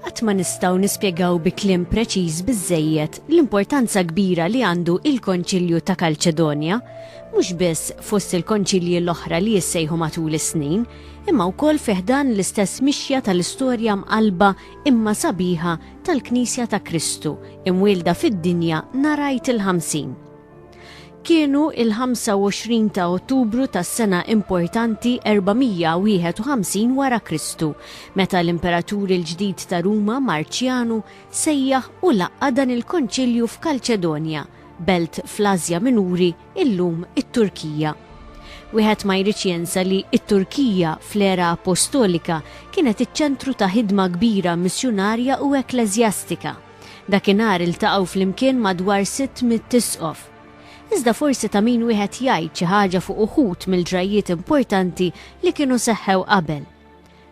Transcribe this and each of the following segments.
Qatt ma nistgħu nispjegaw bi kliem preċiż biżżejjed l-importanza kbira li għandu il-Konċilju ta' Kalċedonja, mhux biss fost il-Konċilji l-oħra li jissejħu matul is-snin, imma wkoll fi ħdan l-istess mixja tal-istorja mqallba imma sabiħa tal-Knisja ta' Kristu, imwielda fid-dinja narajt il-ħamsin. Kienu il-25 ta' Ottubru tas-sena importanti 451 wara Kristu, meta l-Imperatur il-ġdid ta' Ruma, Marċjanu, sejjaħ u laqqa' dan il-Konċilju f'Kalċedonja, belt fl-Asja Minuri, illum it-Turkija. Wieħed ma jridx jensa li t-Turkija, fl-era Appostolika, kienet iċ-ċentru ta' ħidma kbira missjunarja u ekkleżjastika. Dakinhar iltaqgħu flimkien madwar sitt mitt Isqof. Iżda forsi ta' min wieħed jgħid xi ħaġa fuq uħud mill-ġrajjiet importanti li kienu seħħew qabel.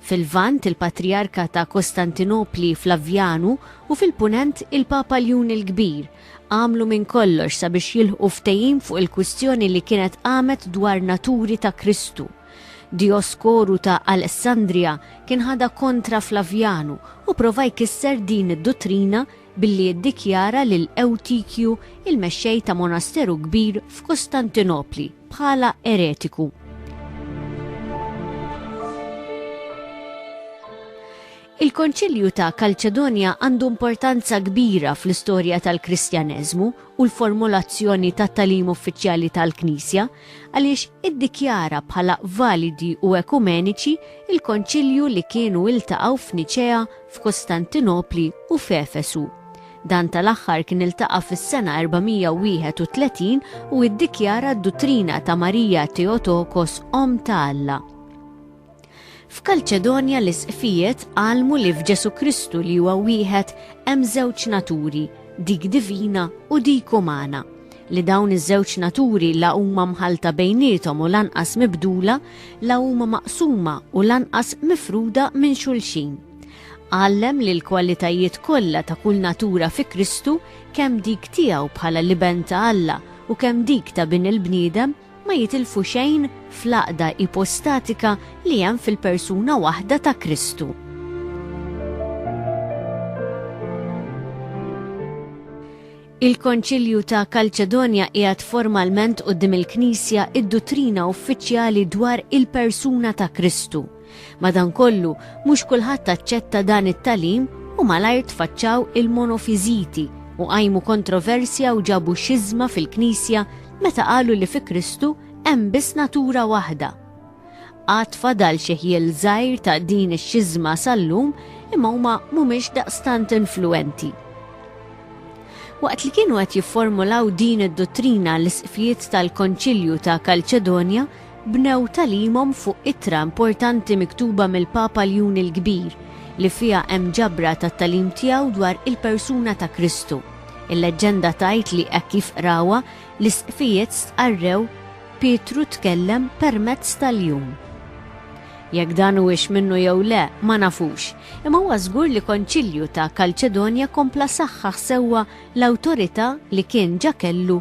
Fil-Lvant il-Patrijarka ta' Kostantinopli Flavjanu u fil-Punent il-Papa Ljun il-Kbir għamlu minn kollox sabiex jilħqu ftehim fuq il-kwistjoni li kienet qamet dwar naturi ta' Kristu. Dijoskoru ta' Alessandrija kien ħadha kontra Flavjanu u prova jkisser din id-duttrina billi iddikjara lil Ewtikju, il-mexxej ta' monasteru kbir f'Kustantinopli, bħala eretiku. Il-Konċilju ta' Kalċedonja għandu importanza kbira fl-istorja tal-Kristjaneżmu u l-formulazzjoni tat-tagħlim uffiċjali tal-Knisja, għaliex iddikjara bħala validi u ekumeniċi l-Konċilju li kienu iltaqgħu f'Niċea, f'Kostantinopli u f'Efesu. Dan tal-aħħar kien iltaqa' fis-sena 431 u iddikjara d-duttrina ta' Marija Theotokos Omm ta' Alla. F'Kalċedonja l-Isqfijiet għallmu li f'Ġesù Kristu li huwa wieħed hemm żewġ naturi, dik divina u dik umana, li dawn iż-żewġ naturi la huma mħallta bejniethom u lanqas mibdula, la huma maqsuma u lanqas mifruda minn xulxin. Għallem li l-kwalitajiet kollha ta' kull natura fi Kristu, kemm dik tiegħu bħala l-Iben ta' Alla u kemm dik ta' Bin il-bniedem, ma jitilfu xejn fl-għaqda ipostatika li hemm fil-persuna waħda ta' Kristu. Il-Konċilju ta' Kalċedonja qiegħed formalment quddiem il-Knisja id-duttrina uffiċjali dwar il-persuna ta' Kristu. Madankollu, mhux kulħadd aċċetta dan it-tagħlim u malajr tfaċċaw il-monofiżiti u qajmu kontroversja u ġabu xiżma fil-Knisja meta qalu li fi Kristu hemm biss natura waħda. Għad fadal xi ħjiel żgħir ta' din ix-xiżma sal-lum imma huma mhumiex daqstant influenti. Waqt li kienu qed jifformulaw din id-dottrina l-isqfijiet tal-Konċilju ta' Kalċedonja bnew tagħlimhom fuq ittra importanti miktuba mill-Papa Ljun il-Kbir, li fiha hemm ġabra tat-tagħlim tiegħu dwar il-persuna ta' Kristu. Il-leġġenda tgħid li hekk kif qrawha, l-isqfijiet stqarrew, Pietru tkellem permezz ta' Ljun. Jekk dan huwiex minnu jew le, ma nafux, imma huwa żgur li Konċilju ta' Kalċedonja kompla saħħaħ sewwa l-awtorità li kien ġa kellu